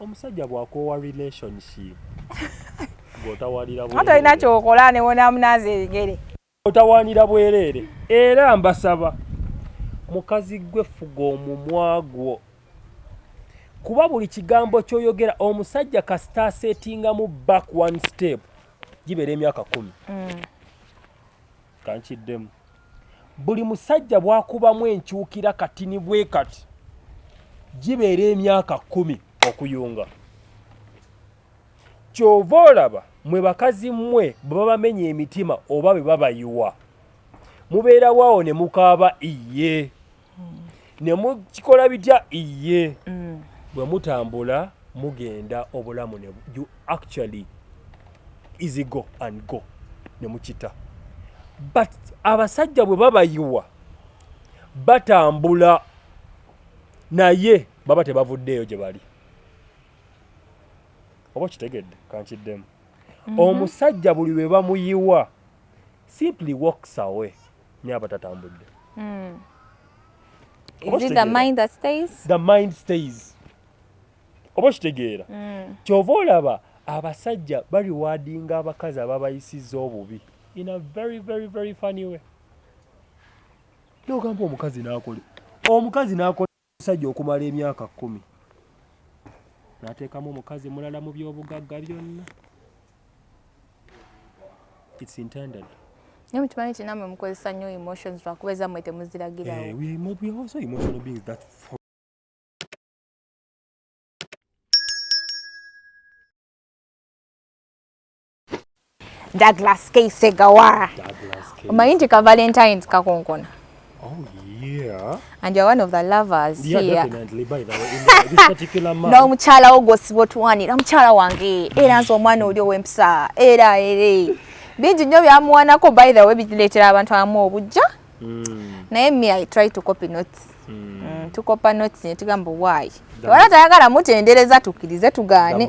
omusajja bwakoowa relationship gotawalira bwerere tolina kyokola newona munaazi ebigere otawanira bwerere era mbasaba mukazi gwe fuga omumwa gwo kuba buli kigambo kyoyogera omusajja kasita asetingamu back one step gibeera emyaka kumi mm. kankiddemu buli musajja bwakubamu enkyukira katini bwe kati gibeera emyaka kumi okuyunga kyova olaba mwe bakazi mmwe bwe babamenya emitima oba bwe babayiwa mubeerawo awo ne mukaaba iye hmm. ne mukikola bitya iye hmm. bwe mutambula mugenda obulamu ne you actually easy go and go ne mukita but abasajja bwe babayiwa batambula naye baba tebavuddeeyo gye bali oba kitegedde kankiddemu mhm. omusajja buli lwe bamuyiwa simply walks away nyabo tatambudde mm. is it the mind that stays the mind stays oba okitegeera mm. kyova olaba abasajja baliwadinga abakazi ababayisiza obubi in a very very very funny way nogamba omukazi nakole omukazi nakole Omusajja okumala emyaka kkumi n'ateekamu omukazi mulala mu by'obugagga byonna. It's intended. Naye mukimanyi nti namwe mukozesa nnyo emotions lwakuba ezammwe temuziragirawo. Eh, we are also emotional beings that Douglas K. Segawara. Douglas K. Omanyi nti ka Valentine's kakonkona. Oh yeah. And you're one of the lovers yeah, here. Definitely by the way in the, this particular month. No mukyala wo gwosiba otuwanira mukyala wange era nze omwana oli ow'empisa era ere bingi nnyo byamuwanako by the way bireetera abantu abamu obujja mm. naye me I try to copy notes mm. Mm, tukopa notes ne tugamba why wala tayagala mutendereza tukkirize tugaane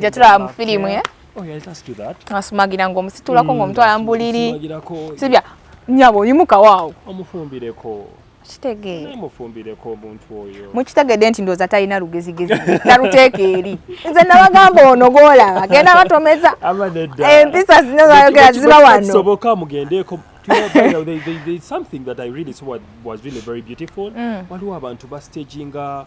gye tulaba mu firimu ye oh, asumagira ng'omusitulako hmm, ng'omutwala mu buliri sibya nyabo oyimukawo awo omufumbireko kitegeere mufumbireko omuntu oyo mukitegedde nti ndooza talina lugezigezi taluteeka eri nze nabagamba ono golaba genda batomeza empisa zino zayogera ziba wano soboka mugendeeko something that i really saw was really very beautiful mm. waliwo abantu bastaginga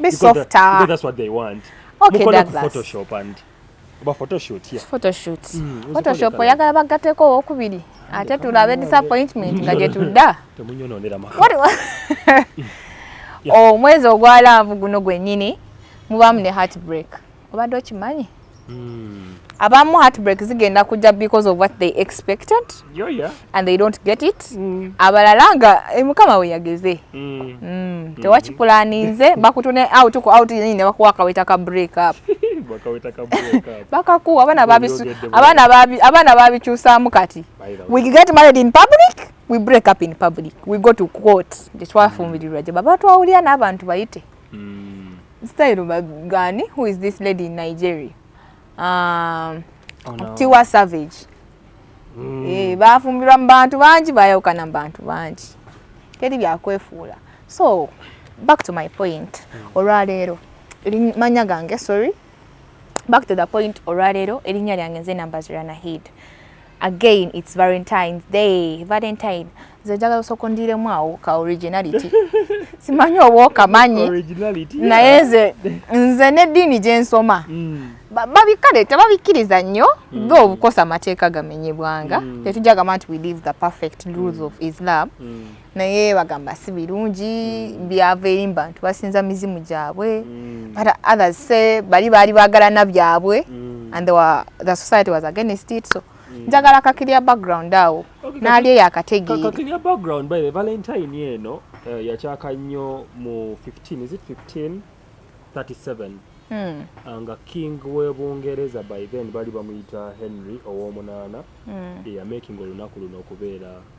Be softer. Because that's what they want. Okay, Douglas. Photoshop and oba photoshoot yeah. photoshoot mm, photoshoop oyagala bagateko owokubiri ate tulabe disappointment nga gyetudda omwezi oh, ogwalambu guno gwenyini mubamu ne heartbreak obadde okimanyi hmm. abamu heartbreak zigenda kujja because of what they expected yeah, yeah. and they don't get it mm. abalala nga eh, mukama weyageze mm. mm. mm. tewakipulaninze bakutune out ku out nyini ne bakuwa akaweta ka break up bakakuwa abaana babisu abaana babi abaana babikyusaamu kati we get married in public we break up in public we go to court tetwafumbirira mm. gye baba twawulira n'abantu bayite mm. style bagani who is this lady in nigeria um, oh, no. tiwa savage mm. e, bafumbirwa mu bantu bangi bayawukana mu bantu bangi teri byakwefuula so back to my point mm. olwaleero manya gange sorry back to the point olwaleero erinnya lyange nze namba ziranahid again it's valentine's day valentine nze njagala osooka ondiremu awo ka originality simanyi oba okamanyi naye nze nze n'eddiini gye nsoma mm. babikale tebabikkiriza nnyo mm. tho obukosa amateeka gamenyebwanga mm. tetujagamba nti we live the perfect rules of islam naye bagamba si birungi mm. byava eri mubantu basinza mizimu gyabwe mm. but others say bali baali bagalana byabwe mm. and were, the society was against it so mm. njagala kakirya background awo okay, naali eyo akategeerakakirya background by the valentine eno uh, yakyaka nnyo mu 15 is it 15 37 mm. uh, nga king webungereza by then bali bamuyita henry owomunaana mm. eyamaking olunaku luno okubeera yeah,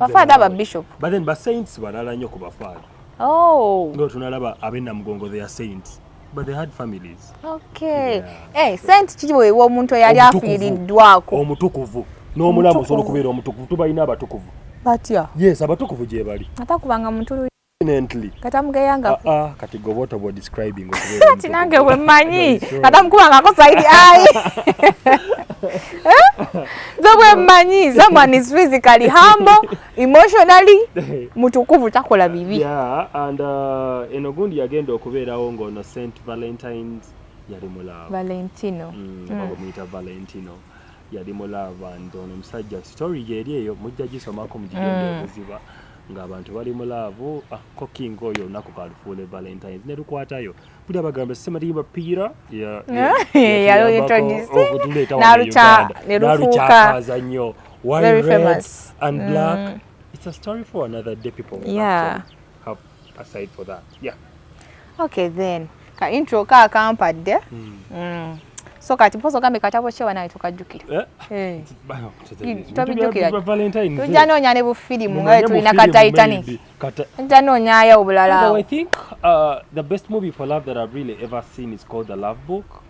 bafaada aba bishop but then basaints balala nnyo ku bafaada oh. nga tunalaba abenamugongo their saints but they had families okay yeah. eh, saint kiweebwa omuntu eyali afiiriddwako omutukuvu n'omulamu osobola okubeera omutukuvu tubalina abatukuvu batya yes abatukuvu gyebali atakubanga muntu kati nange bwemmanyi kata mukuba nga kosaidi ai nze bwemmanyi someone is physically humble emotionally mutukuvu takola bibi yeah, and uh, eno gundi yagenda okubeerawo ngaono st valentines yali mulaavu valentino mm, mm. bamuyita valentino yali mulaavu and ono omusajja story yeeri eyo mujja gisomako mugigenda mm. obuziba nga abantu bali mu laavu ah, ko king oyo olunaku kalufuule valentines ne lukwatayo buli abagamba sematimba piira okutuleetawanalukyaza nnyo wine red and mm. black mm. it's a story for another day people yeah. have, have aside for that yeah okay then ka intro ka kampadde mm. mm. so kati mpozi ogambe katabo kyewa nawe tukajjukira eh? eh. tobijjukira tujja noonya ne bufirimu nga tulina ka titanic tujja noonyayo obulala uh, the best movie for love that i've really ever seen is called the love book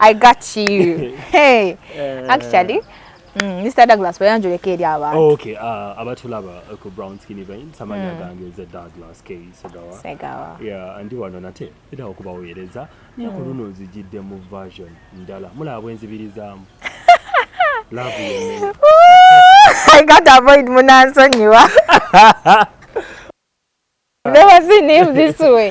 I got you. Hey. Uh, Actually, mm, Mr. Douglas, we anjure ke dia ba. Oh, okay. Ah, uh, abatulaba ko brown skin vein samanya mm. gange ze Douglas ke segawa. Segawa. Yeah, andi wano nate. Ida okuba oyereza. Ni mm. kuluno zijidde mu version ndala. Mula abwenzi biliza. Love you. I got avoid munanso nyiwa. Never seen him this way.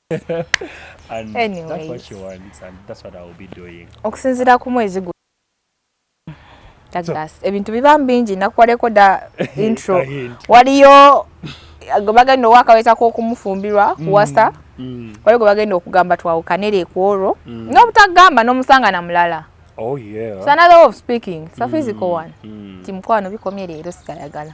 okusinzira ku mwezi gu ebintu biba mbingi nakuwaleko da intro waliyo gwe bagenda owakaweza kokumufumbirwa mm. kuwasa mm. waliyo gwe bagenda okugamba twawukanere ekwolwo mm. nobutagamba nomusanga na mulala oh, yeah. so another way of speaking sa mm. physical one mm. ti mukwano bikomye leero sigayagala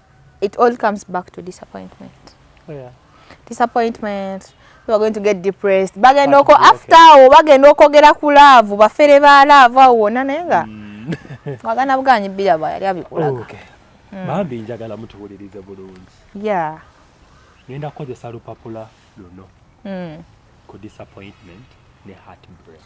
it all comes back to disappointment oh, yeah. disappointment you are going to get depressed bagenda oko after awo bagenda okwogera ku laavu bafere ba laavu awo wona naye nga mm. wagana buganyi bbira bwa yali abikulaga mm. bambi njagala mutuwulirize bulungi ya ngenda kukozesa lupapula luno mm. ku disappointment ne heartbreak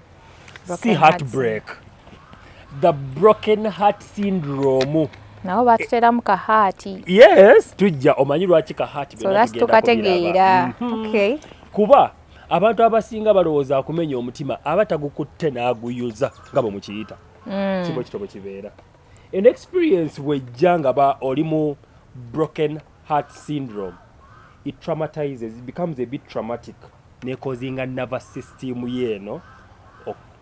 si heartbreak the broken heart syndrome nawo batuteramu ka haati yes tujja omanyi lwaki ka haati so that's tukategeera mm -hmm. okay kuba abantu abasinga balowooza akumenya omutima aba tagukutte n'aguyuza nga bwe mukiyita mm. kibo kitobo kibeera an experience wejja nga ba oli mu broken heart syndrome it traumatizes it becomes a bit traumatic nekozinga nervous system yeeno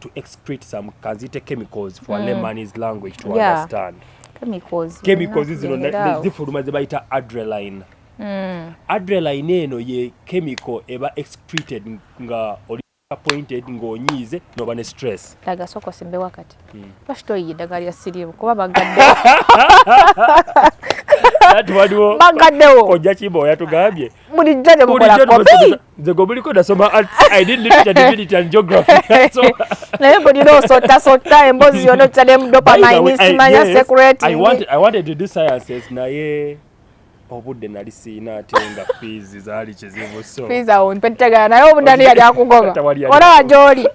to excrete some kanzite chemicals for mm. layman's language to yeah. understand chemicals chemicals zino zifuluma zebayita adreline mm. adreline eno ye chemical eba excreted nga oli appointed ng'onyiize noba ne stress daga soko simbe wakati mm. lwaki toyiye eddagala lya siriimu kuba bagadde bagaddewo ojja kimba oyatugambye bulijjo tegukolakobikobuliko nasoma arts i did literature divinity and geography naye bulina osota sota embozi yona okita ne mudopamine simanya secret i wanted, i wanted to do sciences naye obudde nali siina ate nga fiizi zaali kizibu so fiizi awo mpetegana naye obudde ani yali akugoba olaba gyoli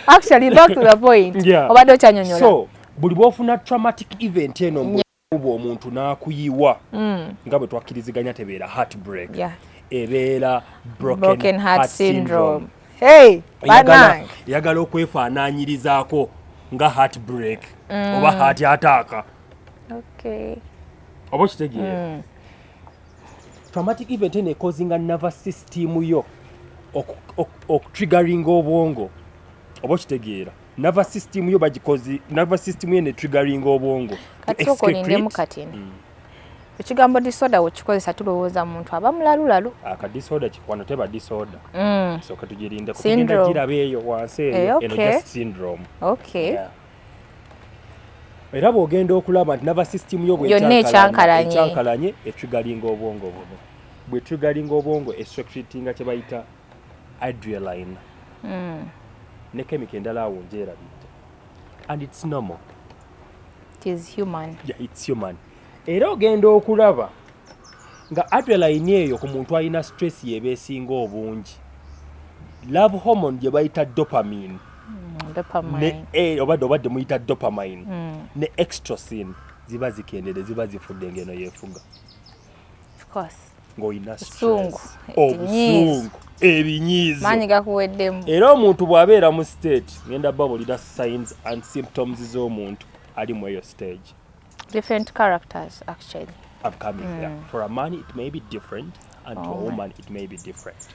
actually back to the point obadde okyanyonyola so buli bwofuna traumatic event eno kuba omuntu n'akuyiwa mm. nga bwe twakkiriziganya tebeera heartbreak yeah. ebeera broken, broken heart, heart syndrome, syndrome. Hey, eyagala okwefaananyirizaako nga heartbreak mm. oba heart ataaka okay. oba okitegeera mm. traumatic event eno ekozinga nerve system yo okutriggeringa obwongo oba okitegeera nava system yo bagikozi nava system ye ne triggering obwongo katikokolindemu katini mm. ekigambo disorder wekikozesa tulowooza muntu aba mulalulalu akadisorder ah, kikwano teba disorder mm. soka tugirinda kugenda giraba eyo wansi eyo eh, okay. eno just syndrome okay. yeah. era bwogenda okulaba nti nava system yo bwekyankalanye etrigalinga obwongo buno bwetrigalinga obwongo estrictinga kyebayita adrialine mm. ne kemika endala awo njerabidde and its normal its human yeah, its human era ogenda okulaba nga adreline eyo ku muntu alina stress yeba esinga obungi love hormone gye bayita dopamine mm, e, obadde obadde muyita dopamine mm. ne extrosin ziba zikendere ziba zifudde ngeno yefuga ng'olina obusungu ebinyiizo maanyi gakuweddemu era omuntu bw'abeera mu state ngenda babulira signs and symptoms z'omuntu ali mu eyo stage different characters actually upcoming mm. yeah. for a man it may be different and oh to a oh woman my. it may be different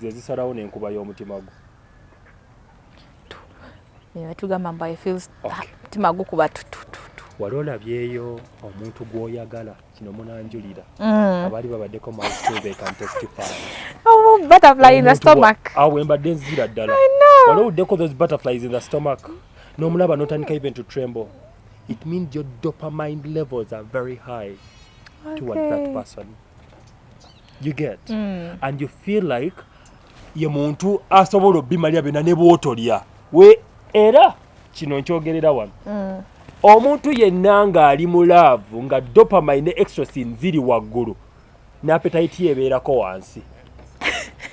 ze zisalawo n'enkuba y'omutima gwo tugamba mbu ifeels mutima gukuba tutututu wali olabyeyo omuntu gwoyagala kino munanjulira mm. abaali babaddeko mawembadde nzira ddala wali owuddeko those butterflies in the stomach n'omulaba notandika even to tremble it means your dopamine levels are very high okay. towards that person you get mm. and you feel like ye muntu asobola obimalya byona ne bwotolya we era kino nkyogerera wano mm. omuntu yenna ng'ali mu laavu nga dopamine ne extrasin ziri waggulu n'apetayiti yebeerako wansi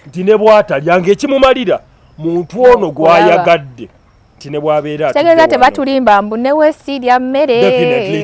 nti ne bwatalya ng'ekimumalira muntu ono gwayagadde nti ne bwabeera tegeza tebatulimba mbu newesiirya mmere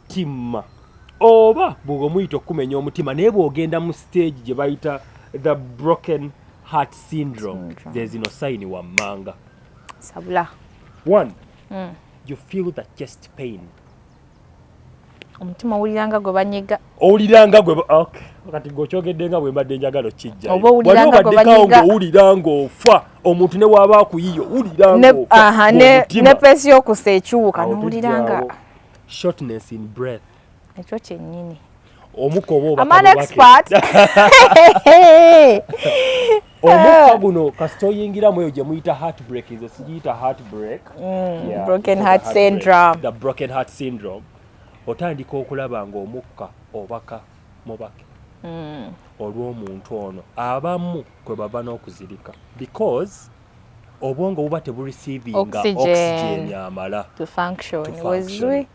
timma oba bwoba omuyita okukumenya omutima naye bwogenda mu stage gye bayita the broken heart syndrome zezino sayini wammanga sabula one mm. you feel the chest pain omutima owuliranga gwe banyiga owuliranga gwe okay. kati gweokyogedde nga bwembadde njagala okijjaobadekawo ngaowulira ngaofa omuntu newaba akuyiyo wulirangane pesi yokusa ekiwuka nowuliranga shortness in breath ekyo kyennyini omuka oba obaamanaexpert omukka guno kasita oyingiramu eyo gye muyita heartbreak nze sigiyita heartbreak mm, broken heart syndrome the broken heart syndrome otandika okulaba ng'omukka obaka mubake mm. olw'omuntu ono abamu kwe bava n'okuzirika because obwongo buba teburisiivinga oxygen amala to function wezwe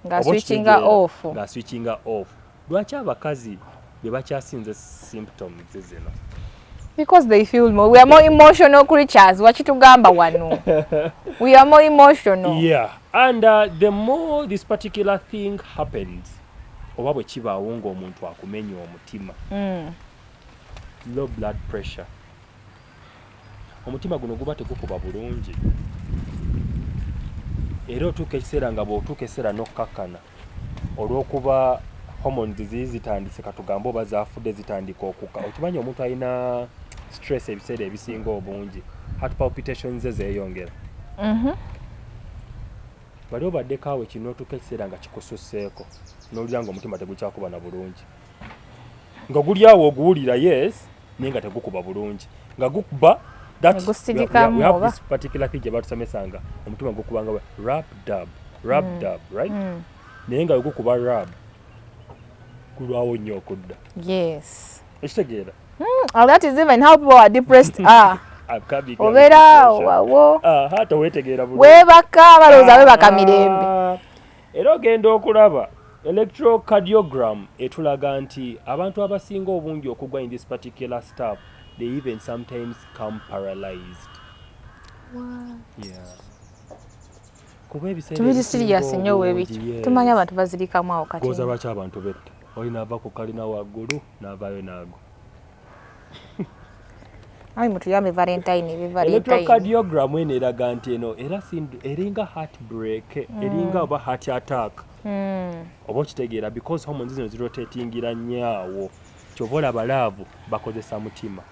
nga switchinga off nga switchinga off lwaki abakazi be bakyasinze symptoms zino because they feel more we are more emotional creatures wakitugamba wano we are more emotional yeah and uh, the more this particular thing happens oba bwe kibaawo ng'omuntu akumenya omutima mm. low blood pressure omutima guno guba tegukuba bulungi era otuuka ekiseera nga bw'otuuka ekiseera n'okukkakkana olw'okuba hormone ziziyi zitandise katugambe oba zafudde zitandika okuka okimanyi omuntu alina stress ebiseera ebisinga obungi heart palpitations ze zeeyongera mhm. bali obaddeko awo kino otuuka ekiseera nga kikususseeko n'olulya nga omutima tegukyakuba na bulungi nga guli awo oguwulira yes naye nga tegukuba bulungi nga gukuba gyebatusomesanga omutima gukubanga rap dab rap mm. dab right mm. naye nga wegukuba rab kulwawo nnyo okudda yes ekitegeera hmm, oh, that is even how people are depressed ah obeera wawo ah, weebaka balowooza webaka mirembe ah. Era ogenda okulaba electrocardiogram etulaga nti abantu abasinga obungi okugwa in this particular stuff they even sometimes come paralyzed tubiri sirias nyo webiki tumanya abantu bazirikamu awo kati goza lwaki abantu betta oli nava ku kalina waggulu navayo naago Ai mutuyambe Valentine be Valentine. Electrocardiogram eno eraga nti eno era eringa heartbreak, mm. eringa oba heart attack. Mm. Oba okitegeera because hormones zino zirotatingira nnyo awo. Kyova olaba laavu bakozesa mutima.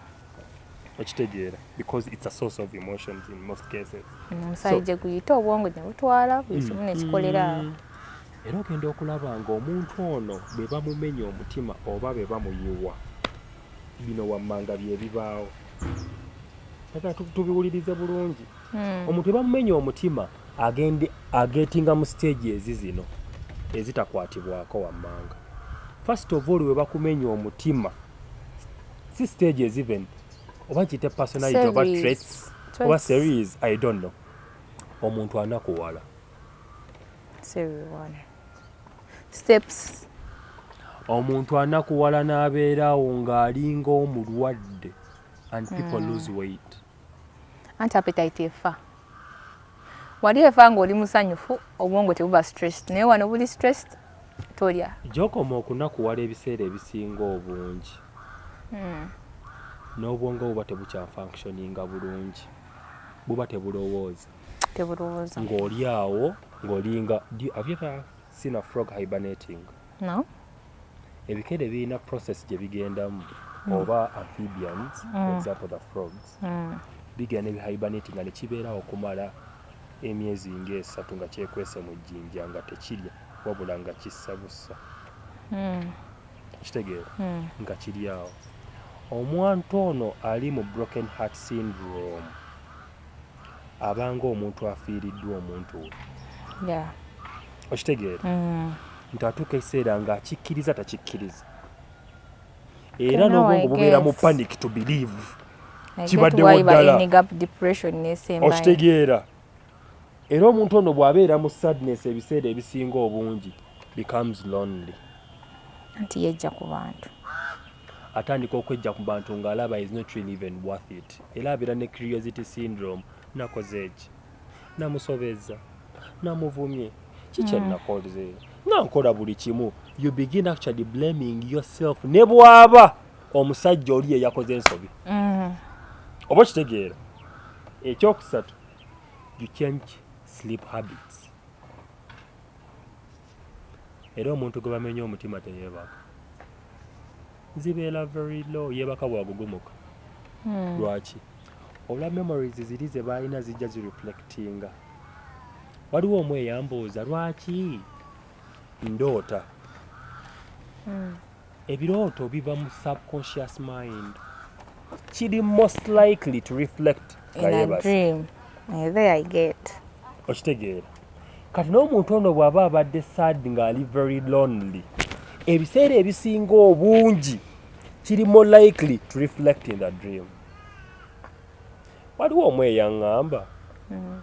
Okitegeera because it's a source of emotions in most cases. Omusajja mm, so, guyita obwongo ne butwala buli kimu ne kikolera awo. Mm. era ogenda okulaba ng'omuntu ono bwe bamumenya omutima oba bwe bamuyiwa bino wammanga byebibaawo aga tubiwulirize bulungi hmm. omuntu bwe bamumenya omutima agende agetinga mu siteegi ezi zino ezitakwatibwako wammanga first of all we bakumenya omutima si siteegi eziven oba kiyite personality oba traits oba series i don't know omuntu anakuwala steps omuntu anakuwala n'abeeraawo ng'alinga omulwadde and people mm. lose weight anti appetite efa wali efa ng'oli musanyufu obwongo tebuba stressed naye wano buli stressed tolya gyokoma okunakuwala ebiseera ebisinga obungi mm. n'obwongo buba tebukyafunctioninga bulungi buba tebulowooza tebulowooza ng'oli awo ng'olinga have you ever seen a frog hibernating no ebikere birina process gye bigendamu mm. oba amphibians mm. for example the frogs mm. bigenda ebihibernating nga nekibeera okumala emyezi ngaesatu nga kyekwese mu jjinja nga tekirya wabula nga kissa bussa mm. kitegeera mm. nga kiri awo omwantu ono ali mu broken heart syndrome aba ng'omuntu afiiriddwa omuntu we okitegeera mm. nti atuuka ekiseera ng'akikkiriza takikkiriza era n'obwongo bubeera mu panic to believe kibaddewo ddala okitegeera era omuntu ono bw'abeera mu sadness ebiseera ebisinga obungi becomes lonely nti yejja ku bantu atandika okwejja ku bantu ng'alaba is not really even worth it era abeera ne curiosity syndrome nakoze eki namusobezza namuvumye kikyenakoze mm. nga nkola buli kimu you begin actually blaming yourself ne bwaba omusajja oli yeyakoze ensobi mm. oba okitegeera ekyokusatu you change sleep habits era omuntu gwe bamenya omutima teyeebaka zibeera very low yeebaka bwagugumuka hmm. lwaki olwa memories ziri ze baalina zijja zireflectinga waliwo omu eyambuuza lwaki ndoota hmm. ebirooto biva mu subconscious mind kiri most likely to reflect okitegeera kati n'omuntu ono bw'aba abadde sad ng'ali very lonely ebiseera ebisinga obungi kiri more likely to reflect in the dream waliwo omu eyaŋŋamba mm.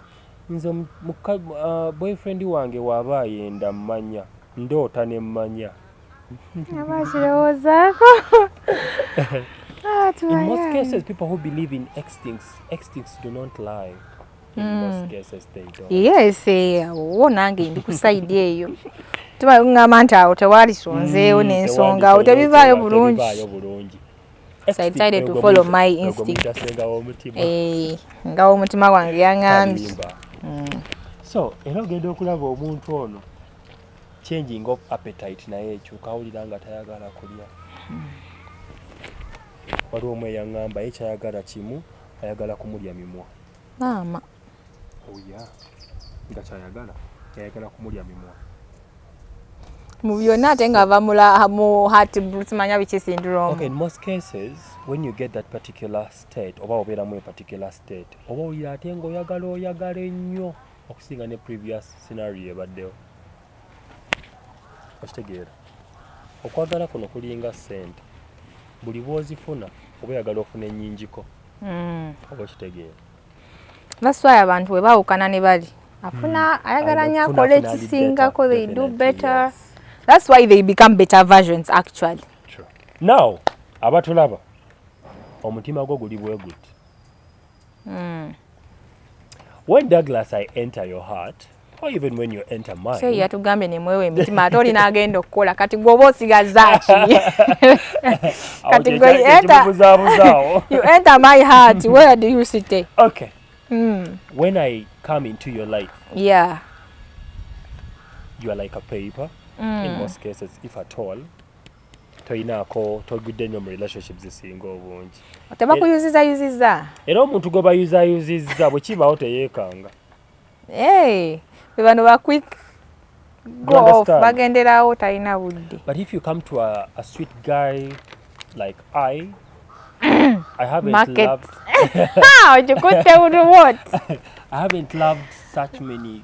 nze uh, boyfriend wange waaba ayenda mmanya ndoota ne mmanya in most cases people who believe in extincts extincts do not lie in mm. most cases they don't yes eh, wo nange ndi ku side eyo tuba ngamba nti awo tewali sonzeewo hmm, n'ensonga awo tebivaayo bulungi so I decided to follow my instinct eh, nga omutima wange yangambye hmm. so era ogenda okulaba omuntu ono changing of appetite naye ekyo kawulira nga tayagala kulya hmm. waliwo omu eyaŋŋamba ye kyayagala kimu ayagala kumulya mimwa maama oya oh, nga kyayagala yayagala kumulya mimwa mu byonna ate nga ava mu heart simanya biki syndrome okay, in most cases when you get that particular state oba obeeramu a particular state oba oyira ate nga oyagala oyagala ennyo okusinga ne previous scenario ebaddewo okitegeera okwagala kuno kulinga sente buli bwozifuna oba oyagala ofuna enyingiko hmm. oba okitegeera baswaya abantu bwe bawukana ne bali afuna hmm. ayagala nyo akola ekisingako they do better that's why they become better versions actually now abatulaba omutima gwo guli bweguti mm. when douglas i enter your heart or even when you enter mine so yatugambye nemwewe emitima ate olina agenda okukola kati gwoba osigazaki kati you enter my heart where do you sit okay mm. when i come into your life yeah you are like a paper mm. in most cases if at all toyinaako togudde nnyo mu relationship zisinga obungi tebakuyuzizayuziza era omuntu gwe bayuzayuzizza bwe kibaawo teyeekanga hey, bebano ba quick golf bagenderawo talina budde but if you come to a, a sweet guy like i I haven't Market. loved. How you could tell what? I haven't loved such many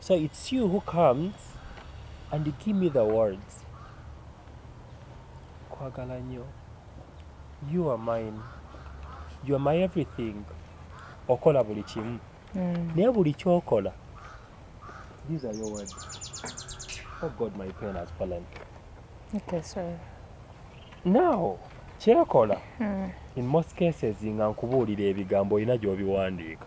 So it's you who comes and you give me the words. Kwagala nyo. You are mine. You are my everything. Okola buli kimu. Mm. Naye buli kyokola. These are your words. Oh God, my pen has fallen. Okay, sorry. Now, kyekola. Mm. In most cases nga nkubuulira ebigambo olina gy'obiwandiika.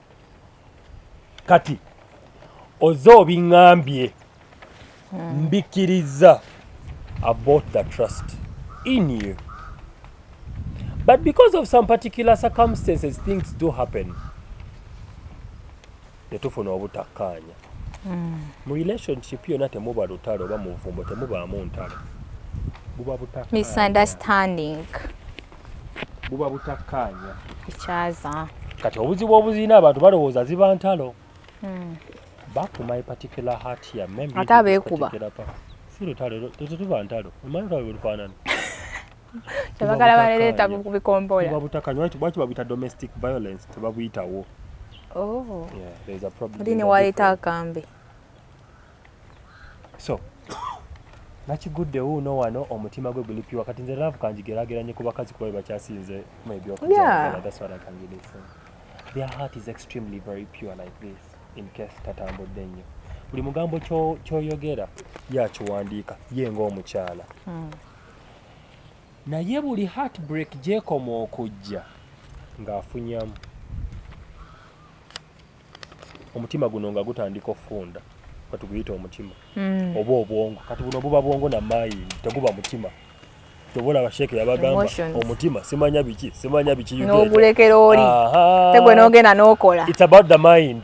kati oze obiŋambye hmm. mbikkiriza about the trust in you but because of some particular circumstances things do happen netufuna obutakkaanya hmm. mu relationship yona temuba lutalo oba muvumbo temubaamu ntalo buba butakkaanya misunderstanding buba butakkaanya ekyaza kati obuzibu obuzirina abantu balowooza ziba ntalo hmm. bakuma epatikula hatia ate abeekuba si lutalo ezo tuba ntalo omanyi lutalo lwelufaanana tebagala balereeta ku bikombola lwaki babuyita domestic violence tebabuyitawo oh. yeah, there's a problem. Dini wali takambi. so nakigudde wuuno wano omutima gwe guli piwa kati nze laavu kanjigerageranye ku bakazi kuba bebakyasinze mu ebyokuaaswalakangidese their heart is extremely very pure like this in case tatambudde nnyo buli mugambo kyoyogera yakiwandiika ye ngaomukyala hmm. naye buli heartbreak gyekoma okujja ng'afunyamu omutima guno nga gutandika okufunda katuguyita omutima mm. oba obwongo kati buno buba bwongo na mayi teguba mutima tobola basheke yabagamba omutima simanya biki simanya biki nogulekera oli tegwe nogenda nokola it's about the mind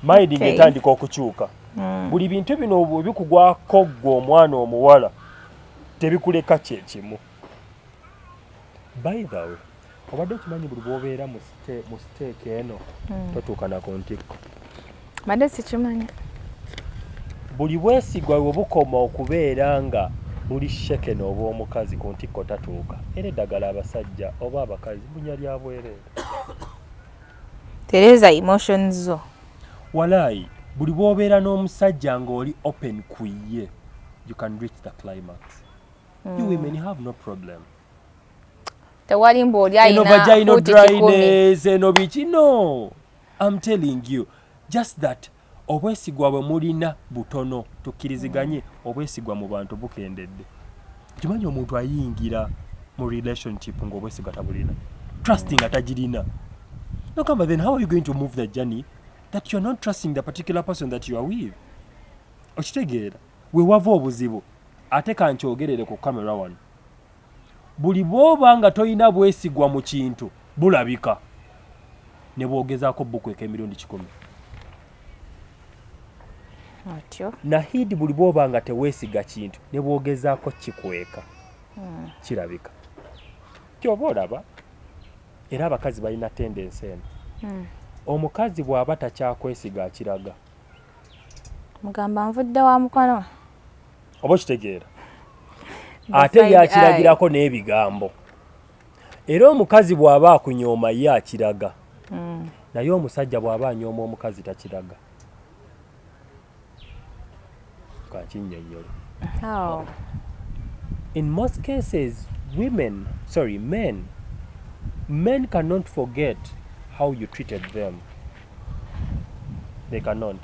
mind okay. ngetandika okukyuka mm. buli bintu bino bikugwako gwe omwana omuwala tebikuleka kyekimu by the way obadde okimanyi buli bwobeera mu siteeka eno hmm. totuukana ku ntikko mbadde sikimanyi buli bwesigwa we bukoma okubeera nga buli sheke nooba omukazi ku ntikko tatuuka era eddagala abasajja oba abakazi bunya lya bwereere tereza emotions zo walaayi buli bwobeera n'omusajja ng'oli open ku ye you can reach the climax mm. you hmm. women have no problem tewali mbu oli alinaeno bikino am telling you just that obwesigwa bwe mulina butono tukkiriziganye obwesigwa mu bantu bukendedde kimanyi omuntu ayingira mu relationship ngaobwesigwa tabulina trusting nga tagirina nogamba then how are you going to move the journey that you're not trusting the particular person that you are with okitegeera wewava obuzibu ate kankyogerere ku camera wano Buli bw'oba nga tolina bwesigwa mu kintu bulabika ne bw'ogezaako bbukweka emirundi kikumi. Atyo. Nahidi buli bw'oba nga teweesiga kintu ne bw'ogezaako kikweka hmm. kirabika. Ky'oba olaba era abakazi balina tendensi eno. Hmm. Omukazi bw'aba takyakwesiga akiraga. mugamba nvudde wa mukono oba okitegeera ate yakiragirako n'ebigambo era omukazi bw'aba akunyooma ye akiraga hmm. naye omusajja bw'aba anyooma omukazi takiraga How? In most cases, women, sorry, men, men cannot forget how you treated them. They cannot.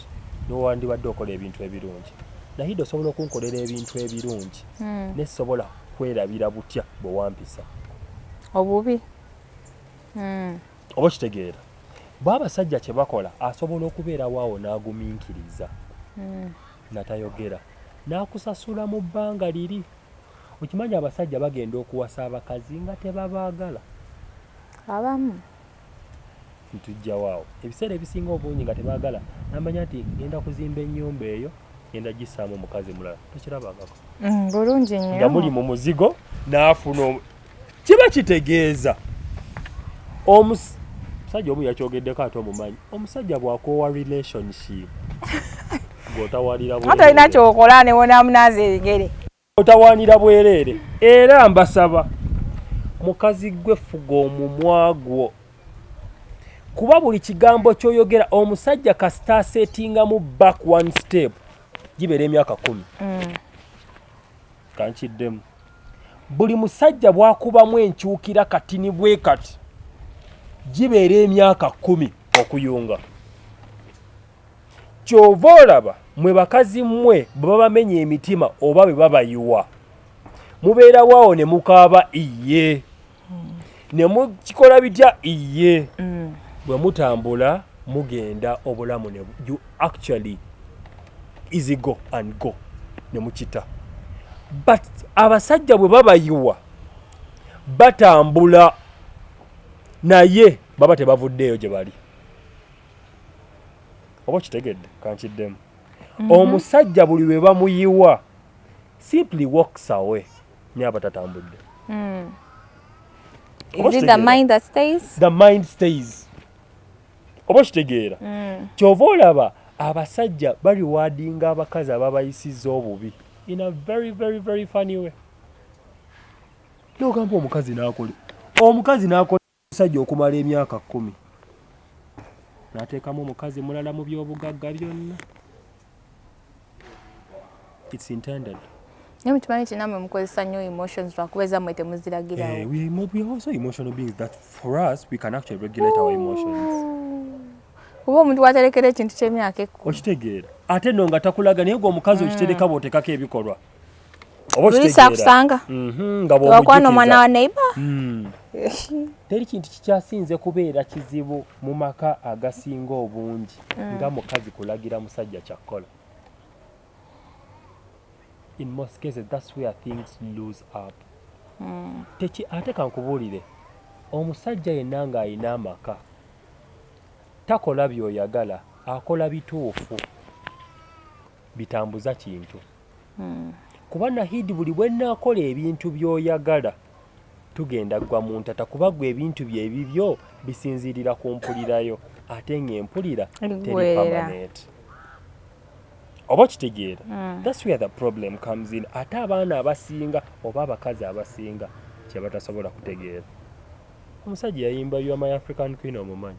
Nowandibadde okola ebintu ebirungi. Nahide osobola okunkolera ebintu ebirungi. Hmm. Nesobola kwerabira butya bwe wampisa. Obubi. Hmm. oba okitegeera bwe abasajja kye bakola asobola okubeerawo awo n'agumiikiriza hmm. natayogera n'akusasula mu bbanga liri okimanyi abasajja bagenda okuwasa abakazi nga tebabaagala abamu ntujjawo awo ebiseera ebisinga obungi nga tebaagala namanya nti ngenda kuzimba ennyumba eyo genda gisaamu omukazi mulala tokirabangako mm, bulungi nyo nga muli mu muzigo n'afuna kiba kitegeeza omusajja omu yakyogeddeko ate omumanyi omusajja bwakoowa relationship gotawaliraolina kyokola newonamunaza ebigere otawanira bwereere era mbasaba mukazi gwe fuga omumwa gwo kuba buli kigambo kyoyogera omusajja kasita asetingamu back one step gibeera emyaka kumi mm. kankiddemu buli musajja bwakubamu enkyukira kati ni bwe kati gibeera emyaka kumi okuyunga kyova olaba mwe bakazi mmwe bwe babamenya emitima oba bwe babayiwa mubeerawo awo ne mukaaba iye hmm. ne mukikola bitya iye hmm. bwe mutambula mugenda obulamu ne you actually easy go and go ne mukita but abasajja bwe babayiwa batambula naye baba tebavuddeeyo gye bali oba kitegedde kankiddemu mhm. omusajja buli lwe bamuyiwa simply walks away nyaba tatambudde mm. is it the mind that stays the mind stays oba okitegeera mm. kyova olaba abasajja baliwadinga abakazi ababayisiza obubi in a very very very funny way nogamba omukazi nakole omukazi nakole Omusajja okumala emyaka kkumi n'ateekamu omukazi mulala mu by'obugagga byonna. It's intended. Naye mukimanyi nti namwe mukozesa nnyo emotions lwakuba ezammwe temuziragirawo. Eh, we, we are also emotional beings that for us we can actually regulate our emotions. Kuba omuntu waterekera ekintu ky'emyaka ekkumi. Okitegeera. Ate no nga takulaga naye gwe omukazi okitereka mm. bw'oteekako ebikolwa. Mm. luyisa akusanga mhm, wakwana omwana wa neighbor hmm. teri kintu kikyasinze kubeera kizibu mu maka agasinga obungi hmm. nga mukazi kulagira musajja kyakkola in most cases that's where things lose up hmm. teki ate kankubuulire omusajja yenna ng'alina amaka takola byoyagala akola bituufu bitambuza kintu hmm. kuba nahidi buli bwenakola ebintu byoyagala tugenda gwa muntata kuba gwe ebintu bye ebibyo bisinzirira ku mpulirayo ate nga empulira teri permanent oba okitegeera hmm. thats where the problem comes in ate abaana abasinga oba abakazi abasinga kyebatasobola kutegeera omusajja yayimba ywa my african queen omumanyi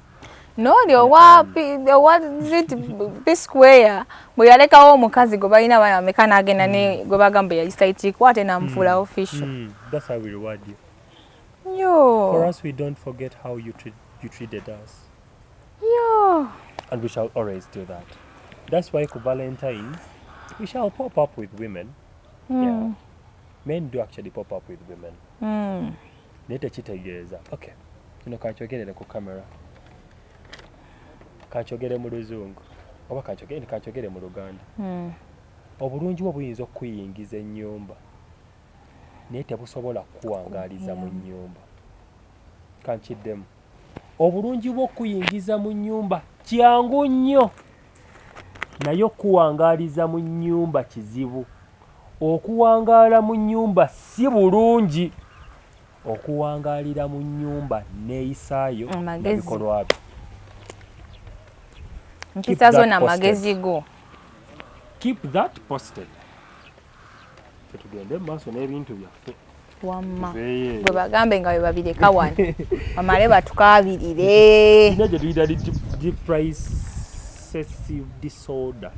nooli owa zit psquare bwe yalekawo omukazi gwe balina abaana bameka n'agenda ne hmm. gwe bagamba yagisaitikwa ate n'amufuula hmm. official hmm. And we shall always do that. That's why for Valentine's, we shall pop up with women. Mm. Yeah. Men do actually pop up with women. Mm. naye tekitegeeza okay kino kankyogerere ku camera kankyogere mu luzungu oba kankyogere kankyogere mu luganda hmm. obulungi bwo buyinza okukuyingiza ennyumba naye tebusobola kukuwangaaliza mu nnyumba kankiddemu obulungi bwo okukuyingiza mu nnyumba kyangu nnyo naye okukuwangaaliza mu nnyumba kizibu okuwangaala mu nnyumba si bulungi okuwangaalira mu nnyumba neeyisaayo nabikolwa byo mpisa zo na magezi go keep that posted tugende mu maaso n'ebintu byaffe wamma gwe bagambe nga webabireka wano bamale batukabirire ina gyetuyita depressive disorder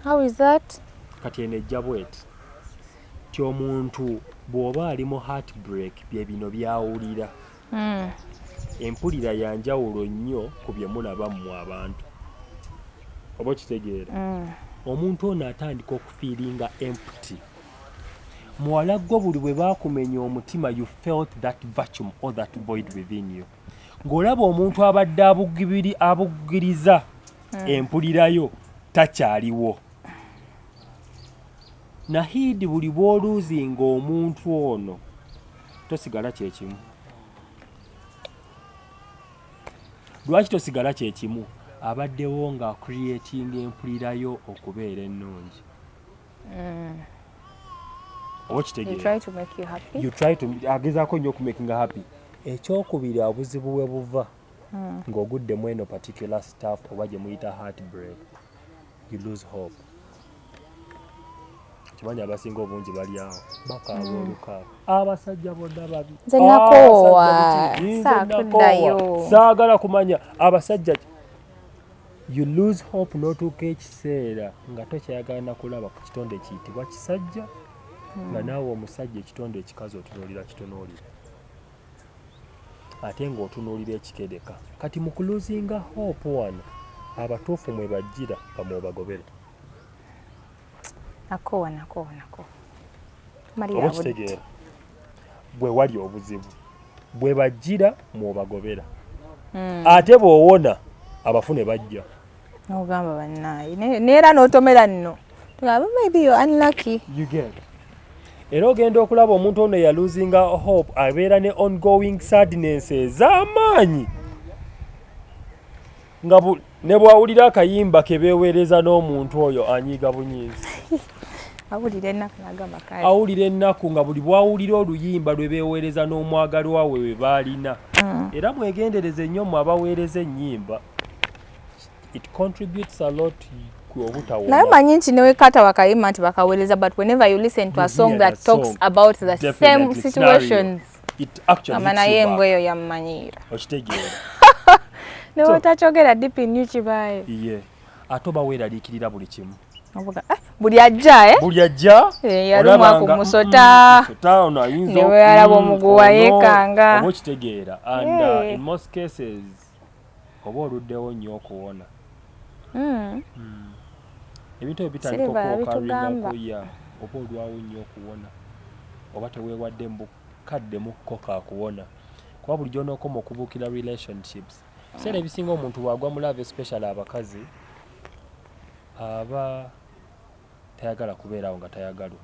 how is that kati eno ejja bweti ti omuntu bw'oba ali mu heartbreak bye bino byawulira hmm. empulira ya njawulo nnyo ku bye mulaba mmwe abantu oba okitegeera hmm. omuntu ono atandika okufiiringa empty muwala gwo buli bwe baakumenya omutima you felt that vacuum or that void within you ng'olaba omuntu abadde abugibiri abugiriza hmm. empulirayo takyaliwo nahiidi buli bw'oluuzinga omuntu ono tosigala kyekimu lwaki tosigala kyekimu abaddewo nga creatinga empulirayo okubeera ennungi mm. agezaako nnyo okumakinga happy ekyokubiri obuzibu we buva mm. ng'ogudde mu eno particular staff oba gye muyita heartbreak you lose hope kimanyi abasinga obungi bali awo bakaaba mm. olukaaba abasajja bonna babi saagala kumanya abasajja You lose hope n'otuuka ekiseera nga tokyayagala na kulaba ku kitonde kiyitibwa kisajja nga hmm. naawe omusajja ekitonde ekikazi otunuulira kitonuulira ate ng'otunuulira ekikedeka kati mu kuluzinga hope wano abatuufu mwe bajjira bamwebagobere nakoowa nakoowa nakoowa oba okitegeera bwe wali obuzibu bwe bajjira mwobagobera hmm. ate bwowona abafune bajja ogamba bannaayi neera n'otomera nno era ogenda okulaba omuntu ono eyaluzinga hope abeera ne ongoing sadness ez'amaanyi nga ne bwawulira akayimba ke beeweereza n'omuntu oyo anyiiga bunyiizi awulira ennaku nagamba kale awulira ennaku nga buli bwawulira oluyimba lwe beeweereza n'omwagalwa we we baalina mm. era mwegendereze nnyo mu abaweereza ennyimba it contributes a lot naye manyi nti newekata wakayima nti bakaweereza but whenever you listen to a song that talks about the same situations amana yembwa eyo yamumanyiira okitegeera newotakyogera deep in you kibaaye iye ate oba weeraliikirira buli kimu eh, buli ajja eh? buli ajja eh, yalumwa ku musota neweyalaba omuguwa yekanga oba okitegeera and uh, in most cases oba oluddewo nnyo okuwona hmm. Hmm. ebintu ebyo bitandika okwokarinako ya oba olwawo nnyo okuwona oba teweewadde mu bukadde mukko kakuwona kuba bulijjo onookoma okubuukira relationships ebiseera ebisinga omuntu bwagwa mu love especially abakazi aba tayagala kubeeraawo nga tayagalwa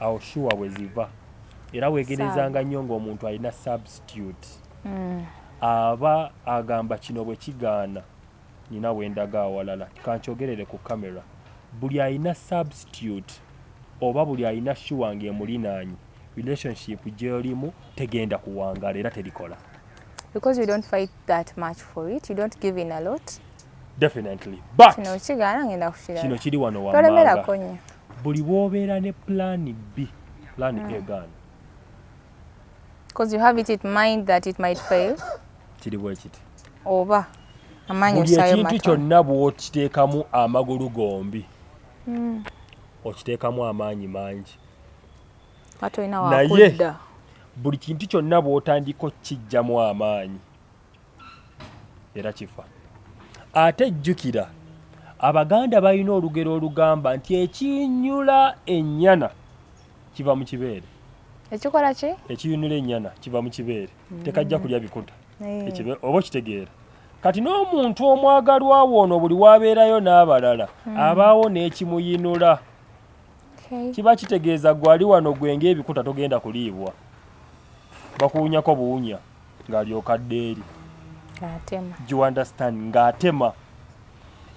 awo shuwa we ziva era weegerezaanga nnyo ng'omuntu alina substitute hmm. aba agamba kino bwe kigaana nina we ndaga awalala kankyogerere ku kamera buli alina substitute oba buli alina shuwa ng'emulinaanyi relationship gy'olimu tegenda kuwangaala era terikola because you don't fight that much for it you don't give in a lot definitely but kino kigaana ngenda kukirala kino kiri wano wammanga buli bwobeera ne plan b plan mm. a gaana because you have it in mind that it might fail kiri bwekiti oba amanyi buli ekintu kyonna bwokiteekamu amagulu gombi mm. okiteekamu amaanyi mangi naye buli kintu kyonna bwotandika okukijjamu amaanyi era kifa ate jjukira abaganda balina olugero olugamba nti ekinyula ennyana kiva mu kibeere ekikola ki ekiyunula ennyana kiva mu kibeere mm. tekajja kulya bikuta eh. oba okitegeera kati n'omuntu omwagalwa woono buli wabeerayo n'abalala mm. abaawo n'ekimuyinula kiba kitegeeza gwali wano gwe ngaebikuta togenda kuliibwa bakuwunyako buwunya ng'alyoka adda eri giwandestand ng'atema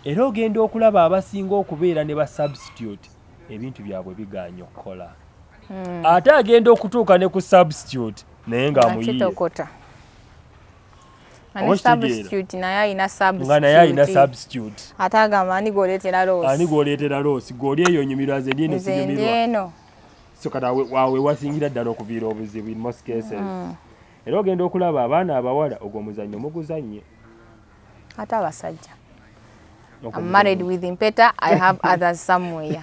era ogenda okulaba abasinga okubeera ne ba substitute ebintu byabwe bigaanye okukola hmm. ate agenda okutuuka ne ku substitute naye ng'amuyiye naye alina substitute ate agamba ani gwoleetera loosi ani gwoleetera loosi gwooli eyo onyumirwa ze ndieno sinyumirwa so kati awo wewasingira ddala okuviira obuzibu in most cases mm. era ogenda okulaba abaana abawala ogwo omuzannyo muguzannye ate abasajja I'm married with Impeta. I have others somewhere.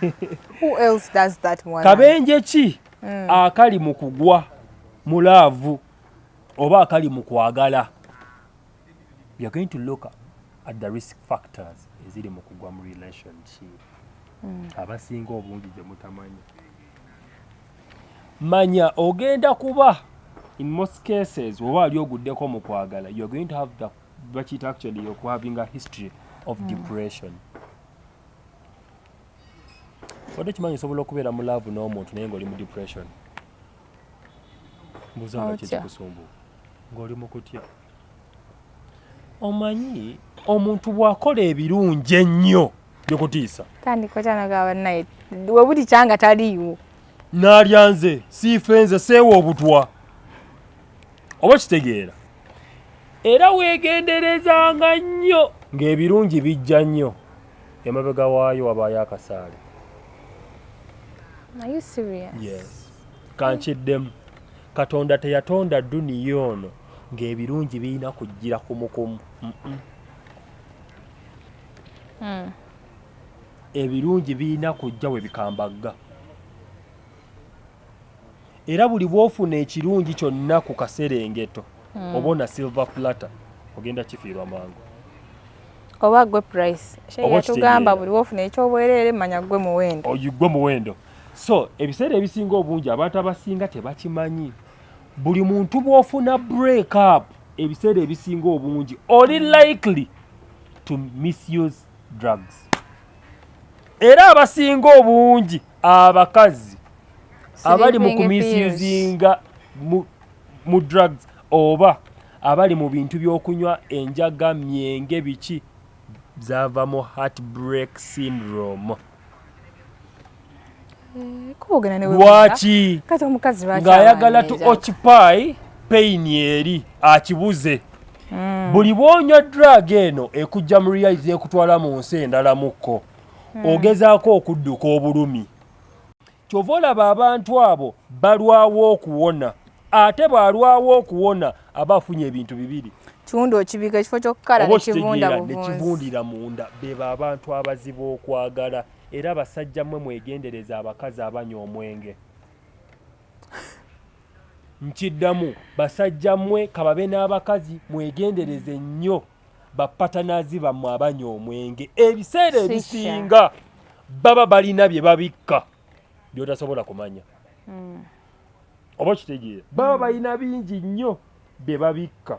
Who else does that one? Kabenje ki mm. akali mu kugwa mu laavu oba akali mu kwagala we are going to look at the risk factors eziri mu kugwa mu relationship mm. abasinga obungi gye mutamanyi manya ogenda kuba in most cases oba ali oguddeko mu kwagala you are going to have the bakiyita actually oku having a history of mm. depression wadde okimanyi osobola okubeera mu laavu n'omuntu naye ng'oli mu depression mbuza kiki kusumbu ng'oli mu kutya omanyi omuntu bw'akola ebirungi ennyo byokutiisa tandikotanagabannaye we buli kyanga taliiwo naalya nze siife nze seewa obutwa oba kitegeera era weegenderezanga nnyo ng'ebirungi bijja nnyo emabega waayo wabaayo akasaale kankiddemu katonda teyatonda duniya ono ng'ebirungi birina kujjira kumukumu hmm. ebirungi birina kujja we bikambagga era buli bwofuna ekirungi kyonna ku kaserengeto mm. oba ona silver plata ogenda kifiirwa mangu oba gwe price yatugamba buli wofuna ekyobwereere manya gwe muwendo oyigwe oh, muwendo so ebiseera ebisinga obungi abantu abasinga tebakimanyi buli muntu bwofuna break up ebiseera ebisinga obungi oli likely to misuse drugs era abasinga obungi abakazi abali mu kumisizinga mu drugs oba abali mu bintu by'okunywa enjaga myenge biki zaava mu heartbreak syndrome eh, lwaki ng'ayagala tu occupy pain eri akibuze hmm. buli bwonywa drug eno ekujja mu reality ekutwala mu nsi endala mukko hmm. ogezaako okudduka obulumi kyova olaba abantu abo balwawo okuwona ate bwalwawo okuwona aba afunye ebintu bibiri kiwunda okibika ekifo kyokukala nekivundira munda beba abantu abazibu okwagala Era basajja mwe mwegendereze abakazi abanywa omwenge. Nkiddamu basajja mwe kababe n'abakazi mwegendereze nnyo bapatanazi bammwe abanywa omwenge ebiseera ebisinga baba balina bye babikka by'otasobola kumanya hmm. oba okitegeera baba hmm. balina bingi nnyo bye babikka